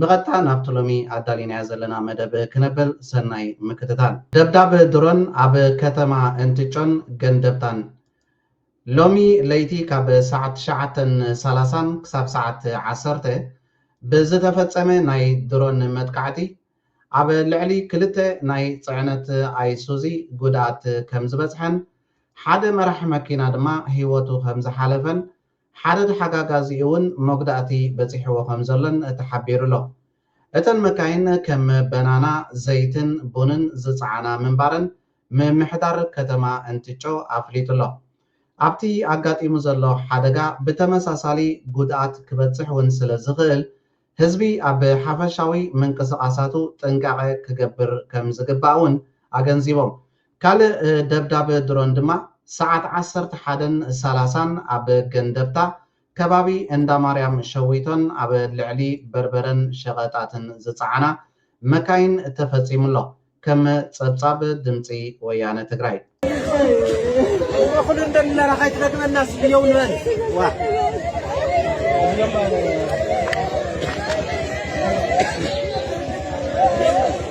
ብቐጥታ ናብቲ ሎሚ ኣዳሊናዮ ዘለና መደብ ክነብል ሰናይ ምክትታል። ደብዳብ ድሮን ኣብ ከተማ እንትጮን ገንደብታን ሎሚ ለይቲ ካብ ሰዓት ትሽዓተን ሰላሳን ክሳብ ሰዓት ዓሰርተ ብዝተፈጸመ ናይ ድሮን መጥቃዕቲ ኣብ ልዕሊ ክልተ ናይ ጽዕነት ኣይሱዚ ጉድኣት ከምዝበጽሐን ሓደ መራሒ መኪና ድማ ህይወቱ ከምዝሓለፈን ሓደ ተሓጋጋዚኡ'ውን መጉዳእቲ በጺሕዎ ከምዘሎን ተሓቢሩ'ሎ። እተን መካይን ከም በናና፣ ዘይትን ቡንን ዝጸዓና ምንባረን ምምሕዳር ከተማ እንትጮ ኣፍሊጡ'ሎ። ኣብቲ ኣጋጢሙ ዘሎ ሓደጋ ብተመሳሳሊ ጉድኣት ክበጽሕ'ውን ስለዝኽእል ህዝቢ ኣብ ሓፈሻዊ ምንቅስቓሳቱ ጥንቃቐ ክገብር ከምዝግባእ'ውን ኣገንዚቦም። ካልእ ደብዳብ ድሮን ድማ ሰዓት ዓሰርተ ሓደን ሰላሳን ኣብ ገንደብታ ከባቢ እንዳማርያም ሸዊቶን ኣብ ልዕሊ በርበረን ሸቐጣትን ዝጸዓና መካይን ተፈጺሙ'ሎ ከም ጸብጻብ ድምጺ ወያነ ትግራይ።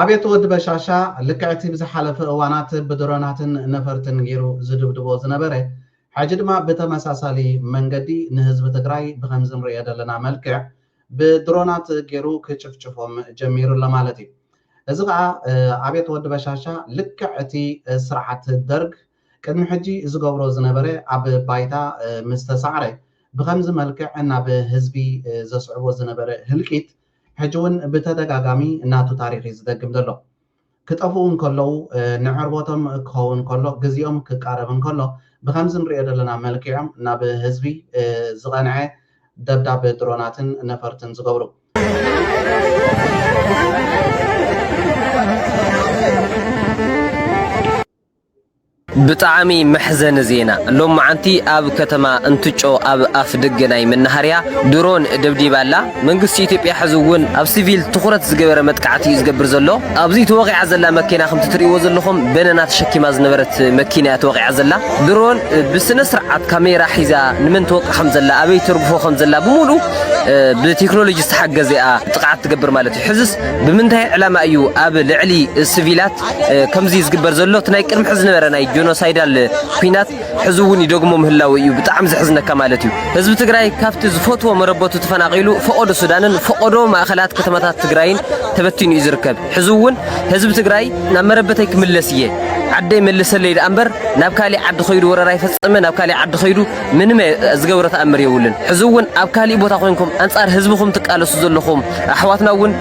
ኣቤት ወዲ በሻሻ ልክዕ እቲ ብዝሓለፈ እዋናት ብድሮናትን ነፈርትን ጌሩ ዝድብድቦ ዝነበረ ሕጂ ድማ ብተመሳሳሊ መንገዲ ንህዝቢ ትግራይ ብከምዚ ንርእዮ ዘለና መልክዕ ብድሮናት ጌሩ ክጭፍጭፎም ጀሚሩ ኣሎ ማለት እዩ እዚ ከኣ ኣቤት ወዲ በሻሻ ልክዕ እቲ ስርዓት ደርግ ቅድሚ ሕጂ ዝገብሮ ዝነበረ ኣብ ባይታ ምስተሳዕረ ብከምዚ መልክዕ ናብ ህዝቢ ዘስዕቦ ዝነበረ ህልቂት ሕጂ ውን ብተደጋጋሚ ናቱ ታሪኽ እዩ ዝደግም ዘሎ። ክጠፍኡ እንከለዉ ንዕርቦቶም ክኸውን ከሎ ግዜኦም ክቃረብ እንከሎ ብከምዚ ንርእዮ ዘለና መልኪዖም ናብ ህዝቢ ዝቐንዐ ደብዳብ ድሮናትን ነፈርትን ዝገብሩ። ብጣዕሚ መሕዘኒ ዜና ሎምዓንቲ ኣብ ከተማ እንትጮ ኣብ ኣፍደገ ናይ መናሃርያ ድሮን ደብዲባ ኣላ መንግስቲ ኢትዮጵያ ሕዚ እውን ኣብ ስቪል ትኹረት ዝገበረ መጥቃዕቲ እዩ ዝገብር ዘሎ ኣብዚ ተወቒዓ ዘላ መኪና ከምቲ ትሪእዎ ዘለኹም በነና ተሸኪማ ዝነበረት መኪና እያ ተወቒዓ ዘላ ድሮን ብስነስርዓት ካሜራ ሒዛ ንመን ትወቅዕ ከምዘላ ኣበይ ተርግፎ ከምዘላ ብሙሉ ብቴክኖሎጂ ዝተሓገዘ እያ ጥቕዓት ትገብር ማለት እዩ ሕዝስ ብምንታይ ዕላማ እዩ ኣብ ልዕሊ ስቪላት ከምዚ ዝግበር ዘሎ እቲ ናይ ቅድሚ ሕዚ ዝነበረ ናይ ጆኖሳይዳል ኩናት ሕዚ እውን ይደግሞ ምህላው እዩ ብጣዕሚ ዘሕዝነካ ማለት እዩ። ህዝቢ ትግራይ ካብቲ ዝፈትዎ መረበቱ ተፈናቒሉ ፈቖዶ ሱዳንን ፈቖዶ ማእኸላት ከተማታት ትግራይን ተበቲኑ እዩ ዝርከብ። ሕዚ እውን ህዝቢ ትግራይ ናብ መረበተይ ክምለስ እየ ዓደይ መልሰለይ ደኣምበር ናብ ካሊእ ዓዲ ከይዱ ወረራ ይፈፅም ናብ ካሊእ ዓዲ ከይዱ ምንም ዝገብሮ ተኣምር የብሉን። ሕዚ እውን ኣብ ካሊእ ቦታ ኮይንኩም ኣንጻር ህዝብኹም ትቃለሱ ዘለኹም ኣሕዋትና እውን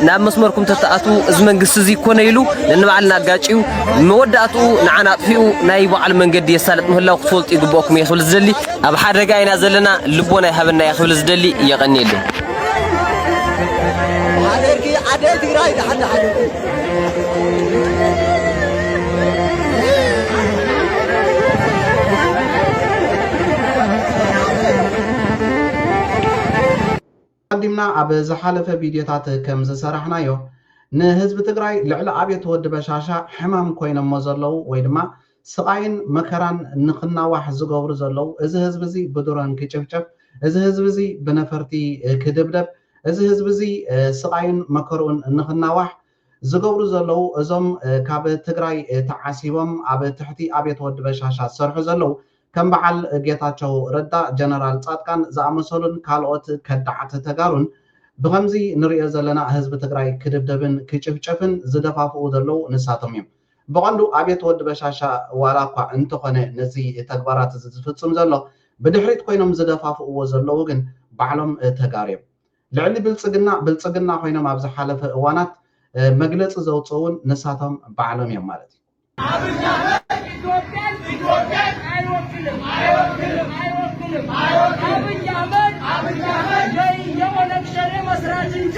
ናብ መስመርኩም ተተኣትዉ እዚ መንግስቲ እዚ ኮነ ኢሉ ነንባዕልና ኣጋጭዩ መወዳእትኡ ንዓና ኣጥፊኡ ናይ በዓሉ መንገዲ የሳልጥ ምህላው ክትፈልጡ ይግብኦኩም እየ ክብል ዝደሊ ኣብ ሓደጋ ኢና ዘለና ልቦና ይሃበና እየ ክብል ዝደሊ የቐኒየለይ። ኣቀዲምና ኣብ ዝሓለፈ ቪድዮታት ከም ዝሰራሕናዮ ንህዝቢ ትግራይ ልዕሊ ኣብየት ወዲ በሻሻ ሕማም ኮይኖሞ ዘለዉ ወይ ድማ ስቓይን መከራን ንክናዋሕ ዝገብሩ ዘለዉ፣ እዚ ህዝቢ እዚ ብድሮን ክጭፍጨፍ፣ እዚ ህዝቢ እዚ ብነፈርቲ ክድብደብ፣ እዚ ህዝቢ እዚ ስቓዩን መከርኡን ንክናዋሕ ዝገብሩ ዘለዉ እዞም ካብ ትግራይ ተዓሲቦም ኣብ ትሕቲ ኣብየት ወዲ በሻሻ ዝሰርሑ ዘለዉ ከም በዓል ጌታቸው ረዳ፣ ጀነራል ፃድቃን ዝኣመሰሉን ካልኦት ከዳዓት ተጋሩን ብኸምዚ ንሪኦ ዘለና ህዝቢ ትግራይ ክድብደብን ክጭፍጨፍን ዝደፋፍኡ ዘለዉ ንሳቶም እዮም። ብቐንዱ ኣብየት ወዲ በሻሻ ዋላ እኳ እንተኾነ ነዚ ተግባራት እዚ ዝፍጽም ዘሎ ብድሕሪት ኮይኖም ዝደፋፍእዎ ዘለዉ ግን ባዕሎም ተጋሩ እዮም። ልዕሊ ብልጽግና ብልጽግና ኮይኖም ኣብ ዝሓለፈ እዋናት መግለጺ ዘውጽኡውን ንሳቶም ባዕሎም እዮም ማለት እዩ። ኣብይ ኣሕመድ ኢትዮጵያን ኣይወክልን ኣይወክልን ኣብይ ኣሕመድ ዘይየኦነግ ሸኔ መስራች እንጂ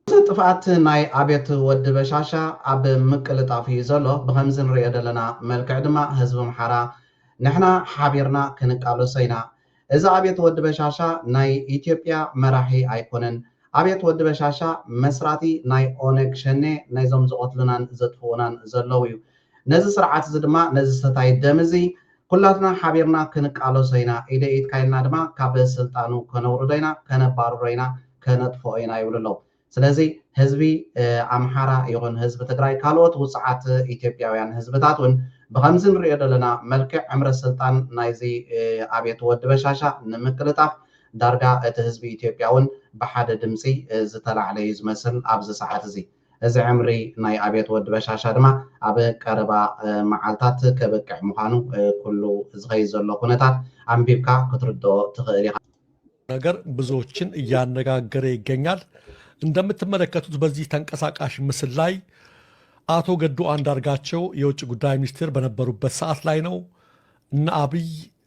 እቲ ጥፍኣት ናይ ኣብየት ወዲ በሻሻ ኣብ ምቅልጣፍ እዩ ዘሎ ብከምዚ ንርእዮ ደለና መልክዕ ድማ ህዝቢ ኣምሓራ ንሕና ሓቢርና ክንቃለሶ ኢና እዚ ኣብየት ወዲ በሻሻ ናይ ኢትዮጵያ መራሒ ኣይኮነን ኣብየት ወዲ በሻሻ መስራቲ ናይ ኦነግ ሸኔ ናይዞም ዝቀትሉናን ዘጥፍኡናን ዘለውዩ ነዚ ስርዓት እዚ ድማ ነዚ ሰታይ ደም እዚ ኩላትና ሓቢርና ክንቃለሶ ኢና፣ ኢደይ ኢድካ ኢልና ድማ ካብ ስልጣኑ ከነውርዶ ኢና፣ ከነባርሮ ኢና፣ ከነጥፍኦ ኢና ይብሉ ኣለዉ። ስለዚ ህዝቢ ኣምሓራ ይኹን ህዝቢ ትግራይ ካልኦት ውጹዓት ኢትዮጵያውያን ህዝብታት እውን ብኸምዚ ንርእዮ ዘለና መልክዕ ዕምሪ ስልጣን ናይዚ ኣብየት ወዲ በሻሻ ንምቅልጣፍ ዳርጋ እቲ ህዝቢ ኢትዮጵያ እውን ብሓደ ድምጺ ዝተላዕለ እዩ ዝመስል ኣብዚ ሰዓት እዚ። እዚ ዕምሪ ናይ ኣብዮት ወዲ በሻሻ ድማ ኣብ ቀረባ መዓልታት ከብቅዕ ምዃኑ ኩሉ ዝኸይድ ዘሎ ኩነታት ኣንቢብካ ክትርድኦ ትኽእል ኢኻ። ነገር ብዙዎችን እያነጋገረ ይገኛል። እንደምትመለከቱት በዚህ ተንቀሳቃሽ ምስል ላይ አቶ ገዱ አንዳርጋቸው የውጭ ጉዳይ ሚኒስትር በነበሩበት ሰዓት ላይ ነው። እነ አብይ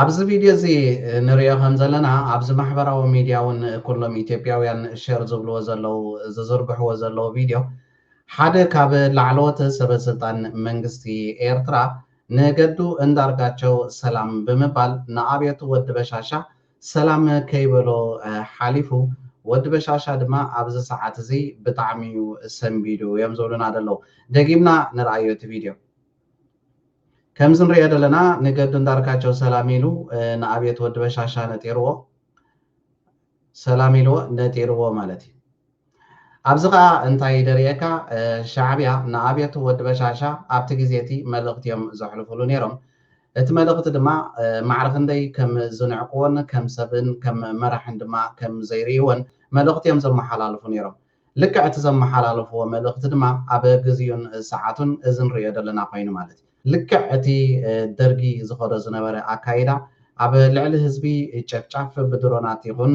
ኣብዚ ቪድዮ እዚ ንሪኦ ከም ዘለና ኣብዚ ማሕበራዊ ሚድያ እውን ኩሎም ኢትዮጵያውያን ሸር ዝብልዎ ዘለዉ ዝዝርግሕዎ ዘለዉ ቪድዮ ሓደ ካብ ላዕለዎት ሰበስልጣን መንግስቲ ኤርትራ ንገዱ እንዳርጋቸው ሰላም ብምባል ንኣብዮት ወዲ በሻሻ ሰላም ከይበሎ ሓሊፉ ወዲ በሻሻ ድማ ኣብዚ ሰዓት እዚ ብጣዕሚ እዩ ሰንቢዱ እዮም ዝብሉና ዘለዉ ደጊምና ንርኣዮ እቲ ቪድዮ ከምዚ ንሪኦ ዘለና ንገዱ እንዳርካቸው ሰላም ኢሉ ንኣብየት ወዲ በሻሻ ነጢርዎ ሰላም ኢልዎ ነጢርዎ ማለት እዩ ኣብዚ ከዓ እንታይ ይደርየካ ሻዕብያ ንኣብየቱ ወዲ በሻሻ ኣብቲ ግዜ እቲ መልእኽቲ እዮም ዘሕልፉሉ ነይሮም እቲ መልእኽቲ ድማ ማዕረ ክንደይ ከም ዝንዕቅዎን ከም ሰብን ከም መራሕን ድማ ከም ዘይርእይዎን መልእኽቲ እዮም ዘመሓላልፉ ነይሮም ልክዕ እቲ ዘመሓላለፍዎ መልእኽቲ ድማ ኣብ ግዚኡን ሰዓቱን እዚ ንርእዮ ዘለና ኮይኑ ማለት እዩ። ልክዕ እቲ ደርጊ ዝኸዶ ዝነበረ ኣካይዳ ኣብ ልዕሊ ህዝቢ ጨፍጫፍ ብድሮናት ይኹን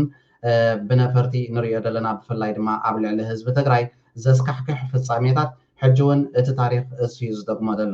ብነፈርቲ ንርእዮ ዘለና ብፍላይ ድማ ኣብ ልዕሊ ህዝቢ ትግራይ ዘስካሕክሕ ፍጻሜታት ሕጂ እውን እቲ ታሪኽ እሱዩ ዝደግሞ ዘሎ።